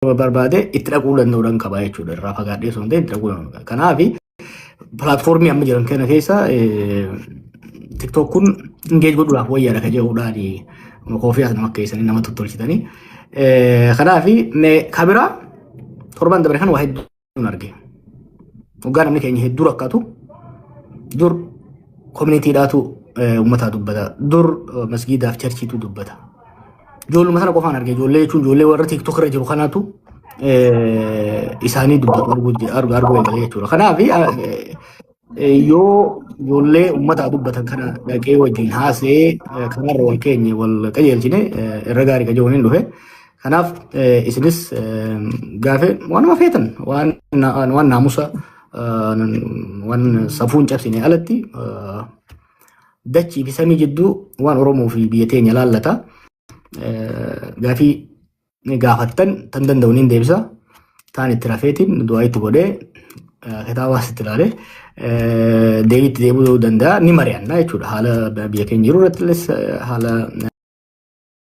barbaade itti dhaquu danda'uudhaan qaba jechuudha. Irraa fagaadhee osoo hin ta'in itti dhaquu danda'uudha. Kanaaf pilaatfoormii amma jiran kana keessa tiktook kun ingeej godhuudhaaf wayyaadha kan jedhuudhaan koofii as nama keessanii nama tottolchitanii. Kanaaf kabiraa torban dabre kan waa hedduu nun arge. Dhugaa namni keenya hedduu rakkatu dur koominiitiidhaatu uummataa dubbata. Dur masgiidaaf charchiitu dubbata. Ijoolluma sana qofaan arge ijoollee jechuun ijoollee warra tiiktook irra jiru kanaatu isaanii dubbatu arguu eegale jechuudha. Kanaaf Yoo ijoollee uummataa dubbatan kana dhaqee wajjin haasa'ee kanarra wal keenye wal qajeelchine irra gaarii qajeelchuun hin dhufe. Kanaaf isinis gaafee waanuma feetan waan naamusa waan safuun cabsine alatti dachii fi samii jidduu waan Oromoo fi biyya teenya laallata. gaafii ni gaafattan tan danda'u niin deebisa. Taan itti rafeetiin du'aa itti godhee kitaabaas itti ilaalee deebii itti deebuu danda'a ni mari'anna jechuudha. Haala biyya keenya jiru irrattis haala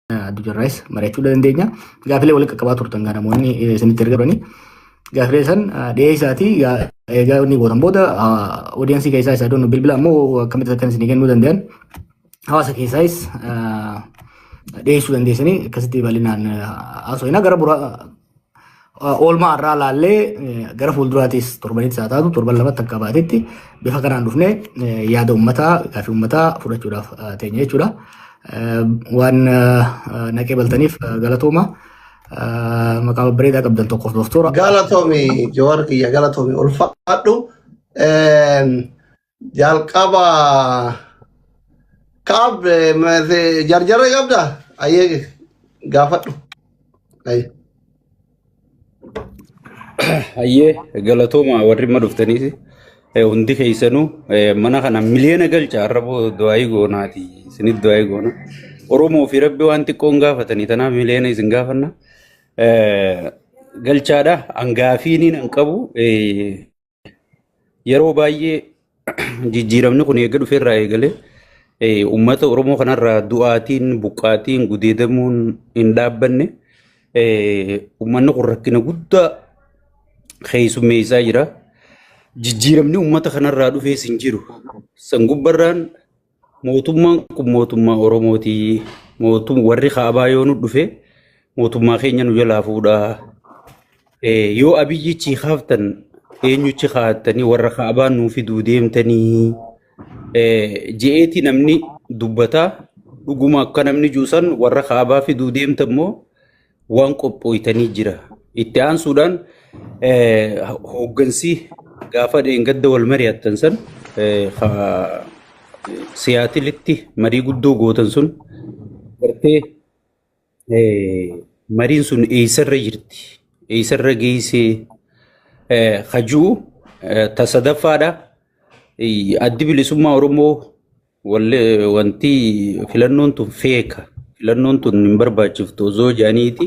addunyaarraayis mari'achuu dandeenya. Gaafilee walitti qaqqabaa turtan kan namoonni isinitti erga turanii gaafilee san dhiyeessaatii egaa inni gootan booda oodiyaansii keessaa isaa doonu bilbila ammoo akkamitti akkan isinii kennuu danda'an hawaasa keessaayis dhiyeessuu dandeessanii akkasitti bal'inaan haasofna gara bura oolmaa irraa laallee gara fuulduraatiis torbanitti haa taatu torban lamatti akka baatetti bifa kanaan dhufne yaada uummataa gaaffii uummataa fudhachuudhaaf teenya jechuudha. Waan naqee baltaniif galatooma. Maqaa babbareedaa qabdan tokkoof doktora. Galatoomi Jawaar kiyya galatoomi ulfaadhu. Jalqaba kaab eh, ma- se- jarjarra qabda ayyee gaafadhu. Ayye. Hayyee galatooma warri amma dhuftaniis eh, hundi keessanuu eh, mana kana miliyoona galcha arraboo du'aayii goonaati isinit du'aayii goona Oromoo fi rabbi waan xiqqoon gaafatanii tanaaf miliyoona isin gaafanna Eh, galchaadha hangaafiiniin hin qabu eh, Yeroo baay'ee jijjiiramni kun eega dhufe irraa eegalee eh, uummata Oromoo kanarraa du'aatiin, buqqaatiin, gudeedamuun hin dhaabbanne. Eh, Uummanni kun rakkina guddaa keessummeessaa jira. Jijjiiramni uummata kanarraa dhufees hin jiru. San gubbarraan Mootummaan kun mootummaa Oromooti. Mootum warri kaabaa yoo nu dhufe mootummaa keenya nu jalaa fuudha. Eh, Yoo abiyyichi kaaftan eenyuchi kaa'attanii warra kaabaa nuu fiduu deemtanii eh, je'eeti namni dubbataa dhuguma akka namni juusan warra kaabaa fiduu deemta immoo waan qophooytanii jira. Itti aansuudhaan hooggansi gaafa dheengadda wal mari'attan san siyaatilitti marii guddoo gootan sun gartee mariin sun eessarra jirti eessarra geessee hajuu tasadaffaadha addi bilisummaa oromoo Walli wanti filannoon tun feeka filannoon tun hin barbaachiftu osoo jedhaniiti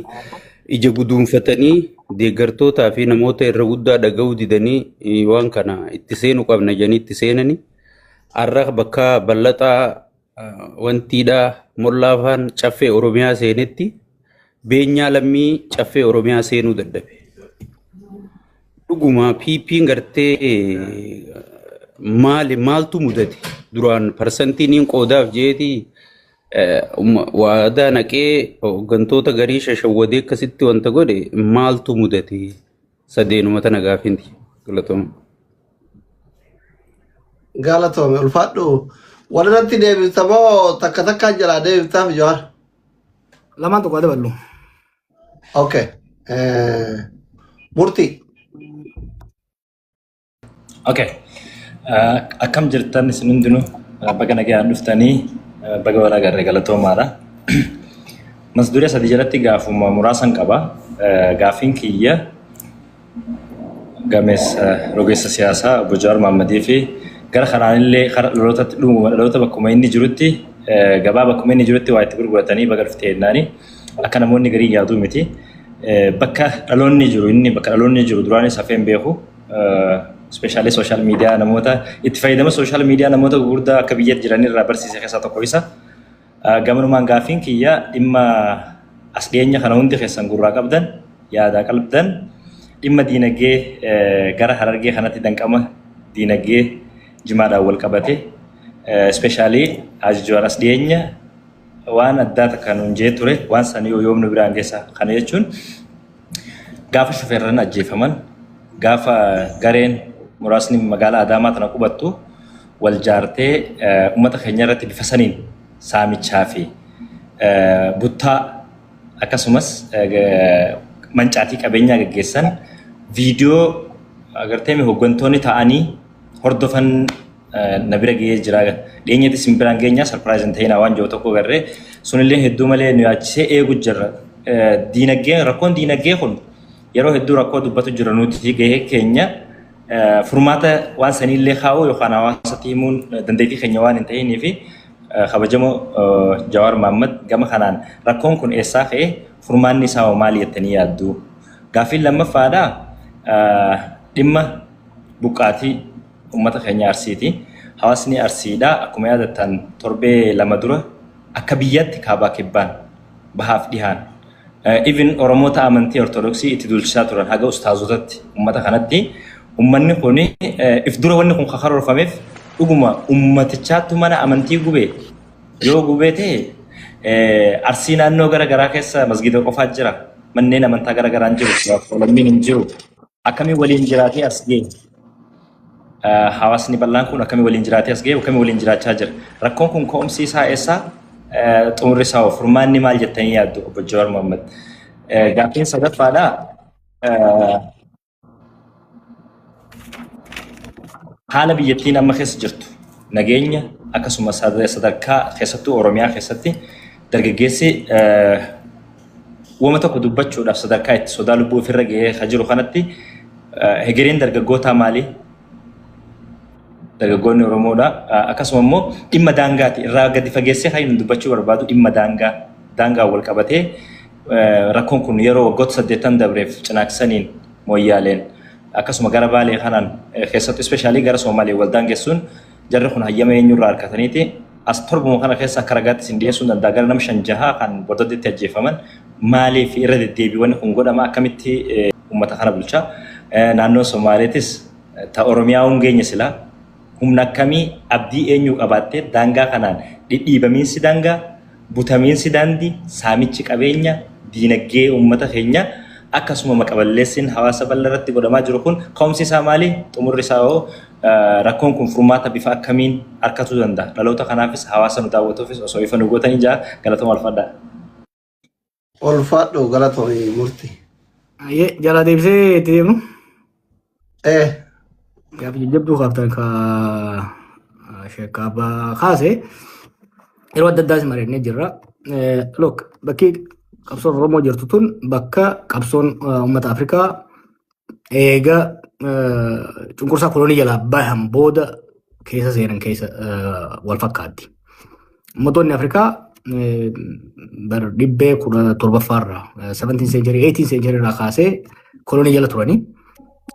ija guduunfatanii deeggartootaa fi namoota irra guddaa dhaga'uu didanii eh, waan kana itti seenu qabna jedhanii itti seenanii har'a bakka bal'ataa ah, wantiidhaa mollaafaan caffee Oromiyaa seenetti Beenyaa lammii caffee Oromiyaa seenuu dadhabe. Dhuguma PP'n gartee maali maaltu mudate duraan parsantii niin qoodaaf jeeti waadaa naqee hooggantoota garii shashawwadee akkasitti wanta godhe maaltu mudate sadeenuma tana gaafinti galatooma. Galatoome ulfaadhu. Walirratti deebifta moo takka takkaa jalaa deebiftaaf jawaar? Lamaan tokko haa daballu. Okay. Eh, Murtii. Okay. Eh, Akkam jirtan isin hundinuu Eh, baga nagaan dhuftanii eh, baga walaa garree galatoomaadha. Mata duree sadii jalatti gaafuma muraasan qaba. Eh, Gaafiin kiyya gameessa rogeessa siyaasaa obbo Jawaar Maammadii fi gara kanaan illee kara dhalootatti dhumuma dhaloota bakkuma inni jirutti gabaa bakkuma inni jirutti waa itti gurguratanii baga dhufte jennaani akka namoonni garii yaaduu miti bakka dhaloonni jiru inni bakka dhaloonni jiru duraanis hafeen beeku ispeeshaalee sooshaal miidiyaa namoota itti fayyadama sooshaal miidiyaa namoota gurguddaa akka biyyatti jiran irraa barsiise keessaa tokko isa. Gamanumaan gaaffiin kiyya dhimma as dhiyeenya kana hundi keessan gurraa qabdan yaadaa qalbdan dhimma diinagdee gara harargee kanatti danqama diinagdee jimaadhaan wal qabate ispeeshaalii Haaji Jawaar as dhiyeenya waan addaa takka nuun jee ture waan san yoo yoom nu biraan geessa kana jechuun Gaafa shufeerran ajjeefaman, gaafa gareen muraasni magaalaa Adaamaa tana qubattu wal jaartee ummata keenya irratti bifa saniin saamichaa fi buttaa akkasumas mancaatii qabeenyaa gaggeessan viidiyoo agarteemi hoggantoonni ta'anii hordofan na bira ga'ee jira. Dhiyeenyatti isin biraan geenyaa sarpiraayiz hin ta'inaa waan jiru tokko garree sunillee hedduu malee nu yaachisee eegu jirra. Diinagdee rakkoon diinagdee kun yeroo hedduu rakkoo dubbatu jira nuti gahee keenya furmaata waan saniillee kaa'uu yookaan hawaasatti himuun dandeettii keenya waan hin ta'inii fi kabajamoo Jawaar Mahaammad gama kanaan rakkoon kun eessaa ka'e furmaanni isaa hoo maali jettanii yaaddu? Gaaffiin lammaffaadha dhimma buqqaatii Uummata keenya Arsiiti. Hawaasni Arsiidha akkuma yaadattan torbee lama dura akka biyyaatti kaabaa kibbaan bahaaf dhihaan even Oromoota amantii Ortodoksii itti duulchisaa turan haga ustaazotatti uummata kanatti uummanni kun if dura wanni kun karoorfameef dhuguma uummatichaattu mana amantii gubee yoo gubee ta'e Arsii naannoo gara garaa keessa masgiida qofaa jira manneen amantaa gara garaan jiru lammiin hin jiru. Akkamiin waliin jiraatee as ga'e? Hawaasni bal'aan kun akkamiin waliin jiraatee as ga'e? Akkamiin waliin jiraachaa jira? Rakkoon kun ka'umsi isaa eessaa? Xumurri isaa hoo? Furmaanni maal jettanii yaaddu obbo Jawaar Mohaammed? Gaaffiin sadaffaadha. Haala biyyattiin amma keessa jirtu nageenya akkasumas sadarkaa keessattuu Oromiyaa keessatti dargaggeessi Wama tokko dubbachuudhaaf sadarkaa itti sodaa lubbuu ofirra gahee ka jiru kanatti hegereen dargaggootaa maali? Dargaggoonni Oromoodha. Akkasuma immoo dhimma daangaati. Irraa gadi fageessee kan inni dubbachuu barbaadu dhimma daangaa. Daangaan wal qabatee rakkoon kun yeroo waggoota saddeettan dabreef cinaaksaniin mooyyaaleen akkasuma gara baalee kanaan keessattuu ispeeshaalii gara Soomalee wal daangessuun Jarri kun hayyama eenyurraa argataniiti as torbuma kana keessa akka ragaatti isin dhiyeessuun danda'a gara nam shan jahaa kan bordaddeetti ajjeefaman maaliif irra deddeebiiwwan kun godhama akkamitti uummata kana bulcha naannoo Somaaleetis ta Oromiyaa hungeenya silaa humna akkamii abdii eenyuu qabaattee daangaa kanaan dhidhiibamiinsi daangaa butamiinsi daandii, saamichi qabeenya, diinagdee uummata keenya akkasuma maqa-balleessiin hawaasa bal'aa irratti godhamaa jiru kun ka'umsi isaa maali? Xumurri isaa hoo rakkoon kun furmaata bifa akkamiin arkatuu danda'a? Dhaloota kanaafis hawaasa nu daawwatuufis osoo ifa nu gootanii ja'a galatoma alfadhaa. Ulfaadhu galatomi murti. Ayyee jalaa deebisee itti deemnu. Eh, Gaaf jajjabduu kaaftan ka sheekka abbaa kaase yeroo adda addaas mari'annee jirra. Eh, Look bakki qabsoon Oromoo jirtu tun bakka qabsoon eh, uummata Afrikaa eega eh, cunqursaa kolonii jalaa bahan booda keessa seenan keessa eh, wal fakkaatti. Uummattoonni Afrikaa eh, bara dhibbee kudha torbaffaa irraa eh, 17 century 18 century irraa kaasee kolonii jala turanii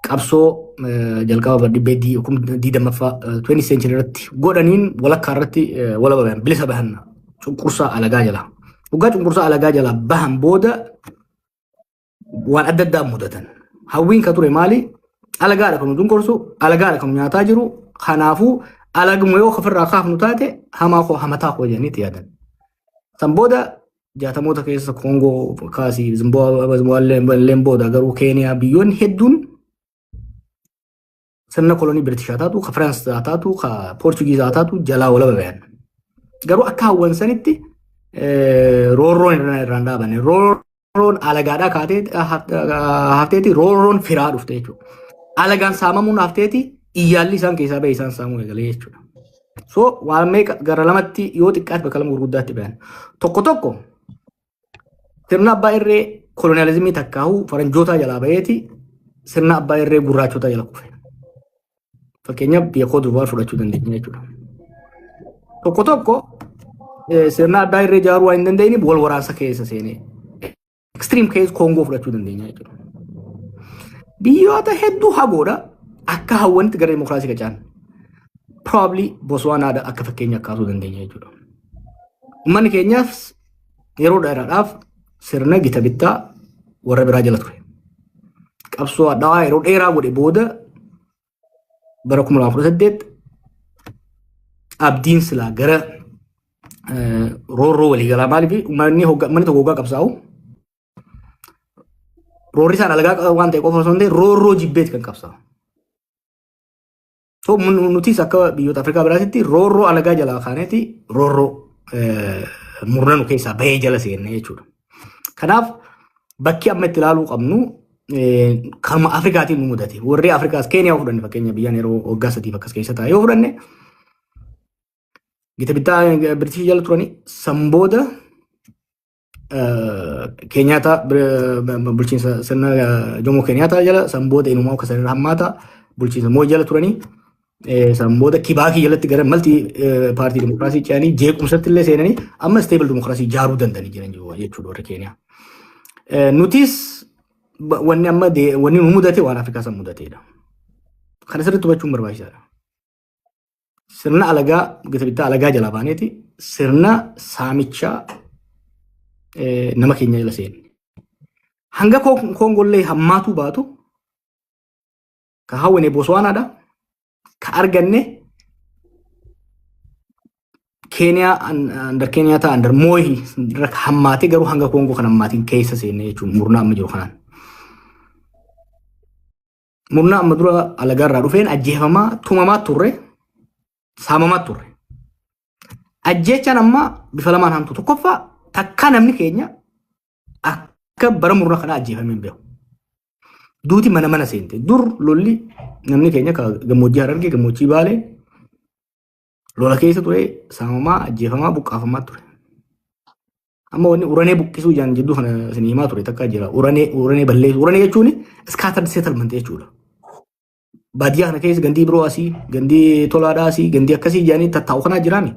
qabsoo eh, jalqaba bara dhibbee di- kum- digdammaffaa eh, 20 century irratti godhaniin walakkaa irratti eh, walaba bahan bilisa bahan cunqursaa alagaa jalaa. Dhugaa cunqursaa alagaa jalaa bahan booda waan adda addaa mudatan. Hawwiin ka ture maali? Alagaadha kan nu dunkorsu, alagaadha kan nu nyaataa jiru. Kanaafuu alaguma yoo ofirraa kaafnu taate hamaa koo hamataa koo jedhanii itti yaadan. San booda jaatamoota keessa Koongoo kaasii Zimbaabuween booda garuu Keeniyaa biyyoonni hedduun sirna kolonii Biritish haa taatu, ka Firaans haa taatu, ka Poorchugiiz haa taatu jalaa walaba bayan. Garuu akka hawwan sanitti roorroon irraan dhaabane. Roorroon alagaadhaa kaatee hafteeti roorroon firaa dhufte jechuudha. Alagaan saamamuun hafteeti iyyaalli isaan keessaa bahe isaan saamuu eegalee jechuudha. So waan meeqa gara lamatti yoo xiqqaate bakka lama gurguddaatti bayan. Tokko tokko Sirna abbaa irree koloniyaalizimii takkaahuu faranjootaa jalaa baheeti sirna abbaa irree gurraachotaa jala kufe. Fakkeenyaaf biyya koo duwwaa fudhachuu dandeenya jechuudha. Tokko tokko eh, sirna addaa irree ijaaruu waan hin dandeenyeef wal waraansa keessa seenee extreme case koongoo fudhachuu dandeenya jechuudha. Biyyoota hedduu hagoodha akka hawwanitti gara dimokiraasii qacaan probably Botswanaadha akka fakkeenya kaasuu dandeenya jechuudha. Uummanni keenyaaf yeroo dheeraadhaaf sirna gita bittaa warra biraa jala ture. Qabsoo hadhaawaa yeroo dheeraa godhe booda bara 2018 abdiin silaa gara eh, roorroo waliigalaa maaliif uummanni hogga- uummanni tokko hoggaa qabsaa'u roorri isaan alagaa qaban waan ta'e qofa osoo hin ta'in roorroo jibbeeti kan qabsaa'u. So, mun- nutis akka biyyoota Afrikaa biraatitti roorroo alagaa jalaa kaaneeti roorroo eh, murna nu keessaa bahee jala seenne jechuudha. Kanaaf bakki amma itti ilaaluu qabnu eh, kanuma Afrikaatiin nu mudate. Warri Afrikaas Keeniyaa yoo fudhanne fakkeenya biyyaan yeroo waggaa sadiif akkas keessa taa'e yoo fudhanne gita bittaa Biritish jala turanii san booda Keenyaataa bulchiinsa sirna Jomoo Keenyaataa jala san booda inumaa akka sanirra hammaata bulchiinsa moo jala turanii san booda kibaakii jalatti gara malti paartii dimokiraasii ce'anii jeequmsatti illee seenanii amma isteebil dimokiraasii ijaaruu danda'anii jiran jechuudha warri Keeniyaa. Nutis wanni amma wanni nu mudate waan Afrikaa san mudateedha. Kana sirriitti hubachuun barbaachisaadha. sirna alagaa gita bittaa alagaa jalaa baaneeti sirna saamichaa eh, nama keenya jala seenne. Hanga Kon- Koongollee hammaatuu baatu ka hawwine Booswaanaadha ka arganne Keeniyaa an- andar Keeniyaa ta'a andar Mooyi irra ka hammaatee garuu hanga Koongoo kan hammaatiin keessa seenne jechuun murnaa amma jiru kanaan. murna amma dura alagaa irraa dhufeen ajjeefamaa tumamaa turre saamamaa turre. Ajjeechaan amma bifa lamaan hamtu tokkoffaa takkaa namni keenya akka bara murna kanaa ajjeefamee hin beeku. Duuti mana mana seente dur lolli namni keenya ka gammoojjii harargee gammoojjii baalee Lola keessa ture saamamaa ajjeefamaa buqqaafamaa ture. Amma wanni uranee buqqisuu jaan jidduu kana isin himaa ture takka jira. Uranee uranee balleessu. Uranee jechuun scattered settlement jechuudha. Baadiyyaa kana keessa gandii biroo asii, gandii tolaadhaa asii, gandii akkasii jaanii tattaa'u kanaa jiraami.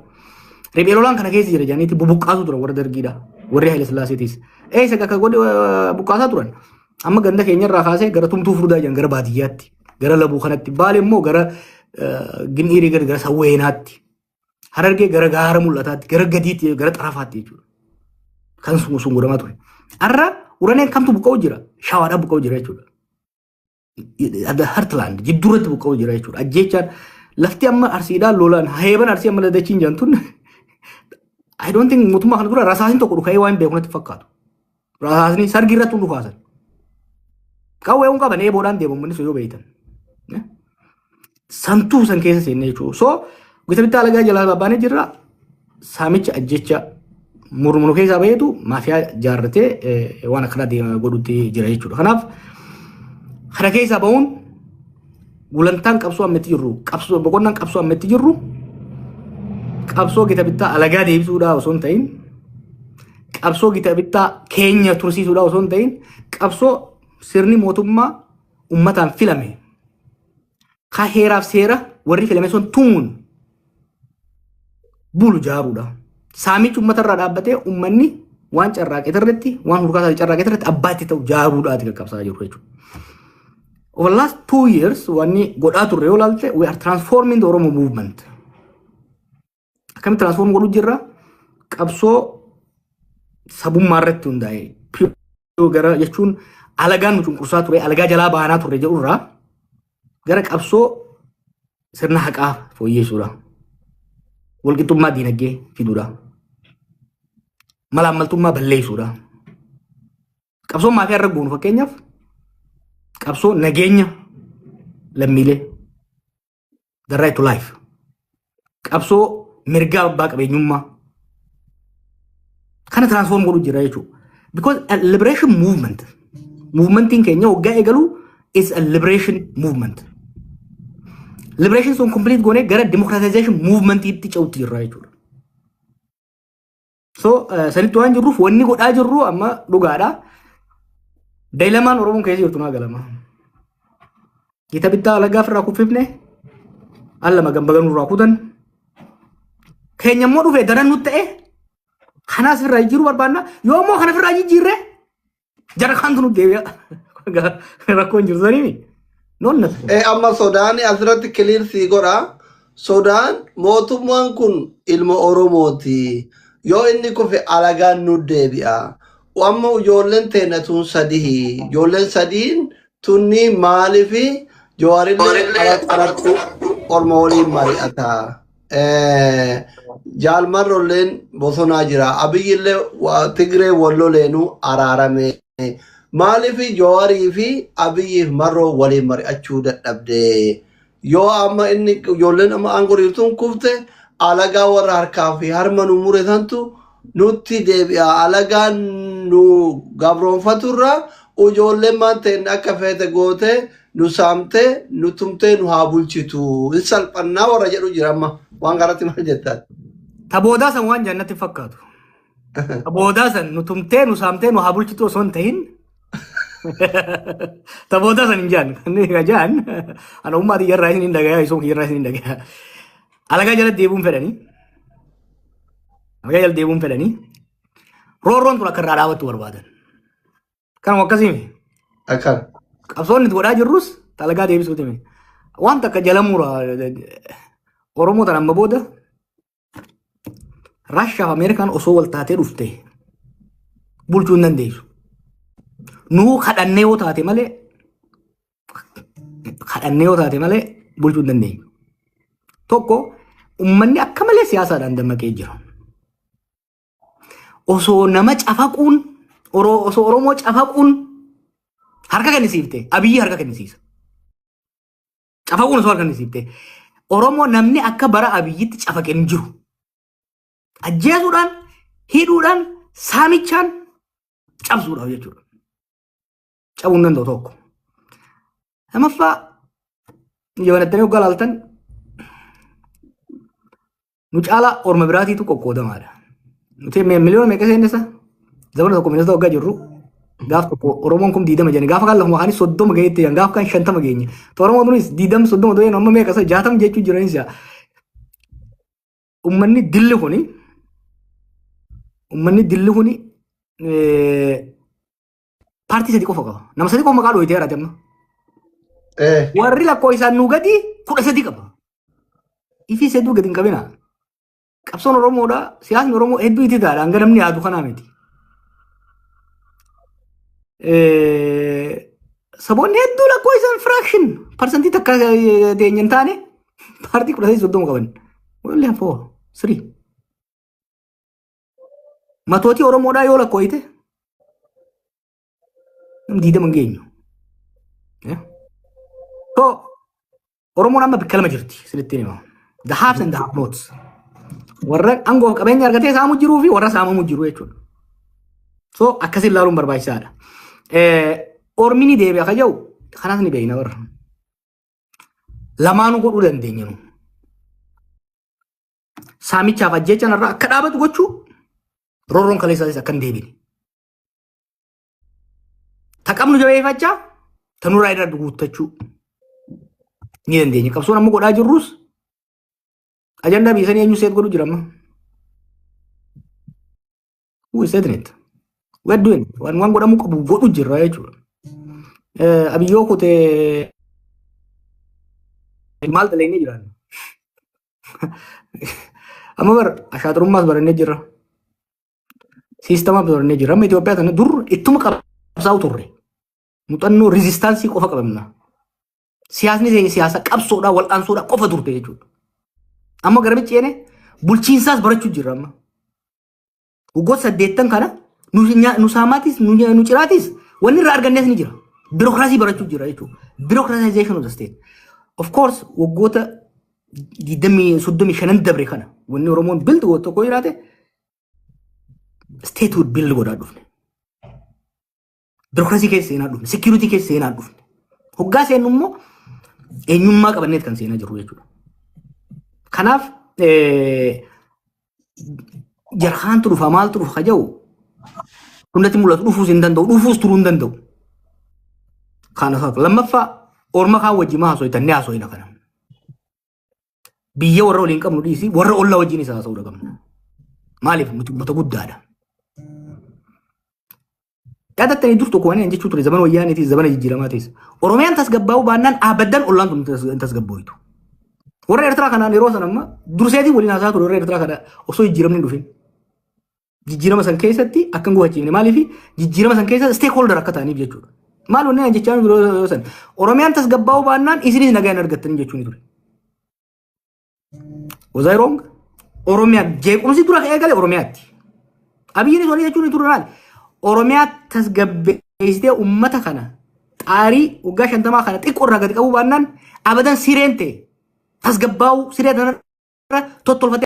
Riphee lolaan kana keessa jira jaaniitti bubuqqaasuu turan warra dargiidha. Warri Haile Sillaaseetis. Eessa akka godhe buqqaasaa turan. Amma ganda keenya irraa kaasee gara tumtuu furdaa jiran gara baadiyyaatti gara labuu kanatti baale immoo gara gin'iirii gara sawweenaatti harargee gara gaara mul'ataatti gara gadiitti gara xarafaatti jechuudha. Kan sun godhamaa ture. Har'a uraneen kamtu buqqa'u jira shawaadhaa buqqa'u jira jechuudha. Adda Hartland jidduurratti buqqa'u jira jechuudha. Ajjeechaan lafti amma arsiidhaan lolaan heeban arsii amma dadachiin jaantun I don't think mootummaa kana dura rasaasin tokko dhuka'ee waan beekunatti fakkaatu. Rasaasni sargii irratti hunduu kaasan. Qawwee kun qaban eeboodhaan deemu manni sun yoo beektan. Santuu san keessa seennee jechuudha. So gita bittaa alagaa jalaa baabbaanee jirra. Saamicha ajjecha murmuru keessaa baheetu maafiyaa jaarratee eh, waan akkanaa deema godhutti jira jechuudha. Kanaaf kana keessaa bahuun gulantaan qabsoo amma itti jirru qabsoo boqonnaan qabsoo amma itti jirru qabsoo gita bittaa alagaa deebisuudhaa osoo hin ta'in qabsoo gita bittaa keenya tursiisuudha osoo hin ta'in qabsoo sirni mootummaa ummataan filame ka heeraaf seera warri filame sun tumuun bulu jaaruudha. Saamichi ummata irraa dhaabbatee ummanni waan carraaqee irratti waan hurkaasaa carraaqee irratti abbaa itti ta'u jaaruudhaati kan qabsaa jiru jechuudha. Over the last two years wanni godhaa turre yoo ilaalte we are transforming the Oromo movement. Akkamitti transform godhu jirra? Qabsoo sabummaa irratti hundaa'e. Piriyoo gara jechuun alagaan nu cunqursaa ture, alagaa jalaa baanaa turre jedhu irraa gara qabsoo sirna haqaa fooyyeessuudha. Walqixxummaa diinagdee fiduudha. Malaammaltummaa balleessuudha. Qabsoon maafiyaa irra goonu fakkeenyaaf qabsoo nageenya lammiilee the right to life qabsoo mirgaa abbaa qabeenyummaa kana transform godhu jira jechuudha. Because a liberation movement movementiin keenya waggaa eegalu is a liberation movement. Liberation sun complete goonee gara democratization movementii itti ce'utti jirra jechuudha. So sanitti waan jirruuf wanni godhaa jirru amma dhugaadha. Daa'ilamaan Oromoon keessa jirtu naa galama. Gita bittaa alagaaf irraa kuffifne al lama gambaganuu irraa kutan. Keenya immoo dhufee daran nutti ta'e kanaas irraa jijjiiruu barbaanna. Yoo immoo kana irraa jijjiirre Jara kantu nu deebi'a. Rakkoo hin jiru saniimi. Noon natti kun. Eh, amma sodaan asirratti kiliir sii godha. Sodaan mootummaan kun ilma Oromooti. Yoo inni kufe alagaan nu deebi'a. Amma ijoolleen teenya tun sadihi. Ijoolleen sadiin tunni maaliifi jawaarillee ala- alatti orma waliin mari'ata. Jaal Marrolleen bosonaa jira. Abiyyillee wa- Tigree walloleenuu araarame. Maaliif Jawaarii fi Abiyyiif Marroo waliin mari'achuu dadhabde? Yoo amma inni ijoolleen amma aangoo dhiirtuun kufte alagaa warra harkaa fi harma nu mure santu nutti deebi'a. Alagaan nu gabroomfaturra ujoollemmaan teenna akka feete gootee nu saamtee nu tumtee nu haa bulchitu. Hin salphannaa warra jedhu jira amma. Waan kanatti maal jettaan? Ta boodaa san waan jaan natti hin fakkaatu. Ta boodaa san nu tumtee nu saamtee nu haa bulchitu osoo hin tahin. Ta boodaa san hin jaan. Inni jaan ana ummaa tiyyarraa isin hin dhagayaa isin kiyyarraa isin hin dhagayaa. Alagaa jala deebi'uun fedhanii. Alagaa jala deebi'uun fedhanii. Roorroon tun akka irraa dhaabattu barbaadan. Kanuma akkasii miti. Akkan. Qabsoonni itti godhaa jirrus alagaa deebisuuti miti. Wanta akka jala mura Oromoo tan amma booda Raashiyaa fi Ameerikaan osoo wal taatee dhufte bulchuu hin dandeessu. Nuu kadhannee yoo taate malee kadhannee yoo taate malee bulchuu hin dandeenyu. Tokko uummanni akka malee siyaasaadhaan dammaqee jira. Osoo nama cafaquun oro- osoo Oromoo cafaquun harka kennisiifte abiyyi harka kennisiisa. Cafaquun osoo harka kennisiifte Oromoo namni akka bara abiyyitti cafaqe hin jiru. Ajjeesuudhaan, hidhuudhaan, saamichaan cabsuudhaaf jechuudha. cabuu hin danda'u tokko. Lamaffaa yoo banattanii hoggaa laaltan nu caalaa orma biraatiitu qoqqoodamaadha. Nuti miliyoona meeqa seennisa? Zamana tokko miliyoona hoggaa jirru gaaf tokko Oromoon kun diidama jenne gaafa kan lafuma kaanis soddoma ga'eetti jedhan gaafa kan shantama geenye. Oromoon kunis diidama soddoma ta'een amma meeqa isa jaatama jechuu jiranis yaa. Uummanni dilli kuni uummanni dilli kuni Paartii sadi qofa qaba. Nama sadi qofa maqaa dhooyitee jiraate amma. Eh, Warri lakkoofsaan nu gadi kudha sadi qaba. Ifii hedduu gadi hin qabina. Qabsoon Oromoodha. Siyaasni Oromoo hedduu itti taa'adha. Hanga namni yaadu kanaa miti. Eh, Saboonni hedduu lakkoofsaan firaakshin parsantii takka eh, teenya hin taane paartii kudha sadi soddoma qaban. Wallee hafoo sirii. Matootii Oromoodhaa yoo lakkooyte diidama hin geenyu. Yeah. So, Oromoon amma bakka lama jirti isinitti hima. The haves and the have nots. Warra aangoof qabeenya argatee saamuu jiruu fi warra saamamu jiru jechuudha. So akkasii ilaaluun barbaachisaadha. Eh, Ormi ni deebi'a kan jedhu kanas ni beekna warra. Lamaanuu godhuu dandeenya nu. saamichaaf ajjeechaan irraa akka dhaabatu gochuu roorroon kaleessaanis akka hin deebine. Ta qabnu jabeeffachaa ta nurraa irra guuttachuu ni dandeenya. Qabsoon amma godhaa jirrus ajandaa biyya sanii eenyu seet godhu jira amma. Who is setting it? We are doing it. Waan waan godhamuu qabu godhu jirra jechuudha. Eh, Abiyyoo kutee maal dalagnee jiraanna? Amma bar ashaaturummaas barannee jirra. Siistamaas barannee jirra. Amma Itoophiyaa sana dur ittuma qabsaa'u turre. Muuxannoo riizistaansii qofa qabamna. Siyaasni keenya siyaasa qabsoodhaa wal'aansoodhaa qofa turte jechuudha. Amma garamichi jeene bulchiinsaas barachuu jirra amma. Waggoota saddeettan kana nu nya- nu saamaatis nu nya- nu ciraatis wanni irraa argannes ni jira. Birookiraasii barachuu jira jechuudha. Birookiraasaayizeeshin of the state. Of course waggoota 20 35 dabre kana wanni Oromoon bild godhu tokko jiraate state would bild godhaa dhufne. Birokrasii keessa seenaa dhufne, security keessa seenaa dhufne. Hoggaa seennu immoo eenyummaa qabanneet kan seenaa jirru jechuudha. Kanaaf jarhaantu dhufa maaltu dhufa jedhu hundatti mul'atu dhufuus hin danda'u dhufuus turuu hin danda'u. Kana lammaffaa orma kaan wajjin maa haasoftan ni haasofna kana. Biyya warra waliin qabnu dhiisii warra ollaa wajjin isaa haasa'uu qabna. Maaliif nuti uummata guddaadha. Yaadattanii dur tokko waan jechuu ture zaman wayyaaniitis zamana jijjiiramaa ta'es. Oromiyaan tasgabbaa'uu baannaan aabaddan ollaan tun hin tasgabbooytu. Warra Eertiraa kanaan yeroo sana amma durseetiin waliin haasaa ture warra Eertiraa kana osoo jijjiiramni hin dhufin. Jijjiirama san keessatti akka hin gufachiifne maaliif jijjiirama san keessa stakeholder akka ta'aniif jechuudha. Maal wanni ani jechaa jiru yoo san Oromiyaan tasgabbaa'uu baannaan isinis nagaa hin argattanii jechuun ture. Was I wrong? Oromiyaa jeequmsi dura ka'ee gale Oromiyaatti. Abiyyiinis wanni jechuun ture maal? Oromiyaa tasgabbeessitee uummata kana xaarii waggaa shantamaa kana xiqqoo irraa gadi qabuu baannaan abadan sireen ta'e tasgabbaa'uu siree tanarra tottolfatee